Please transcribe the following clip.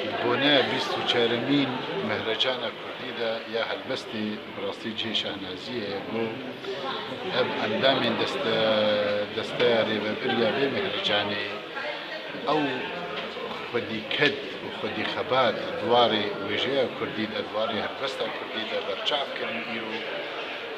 Di boneya bîst û çaremîn Mehracana Kurdî de ya helbestê bi rastî cihê şahnaziyê ye bo ev endamên desteya rêvebir ya vê mehrecanê. Ew xwedîked û xwedîxebat di warê wêjeya Kurdî de, di warê helbesta Kurdî de berçav kirin. Îro.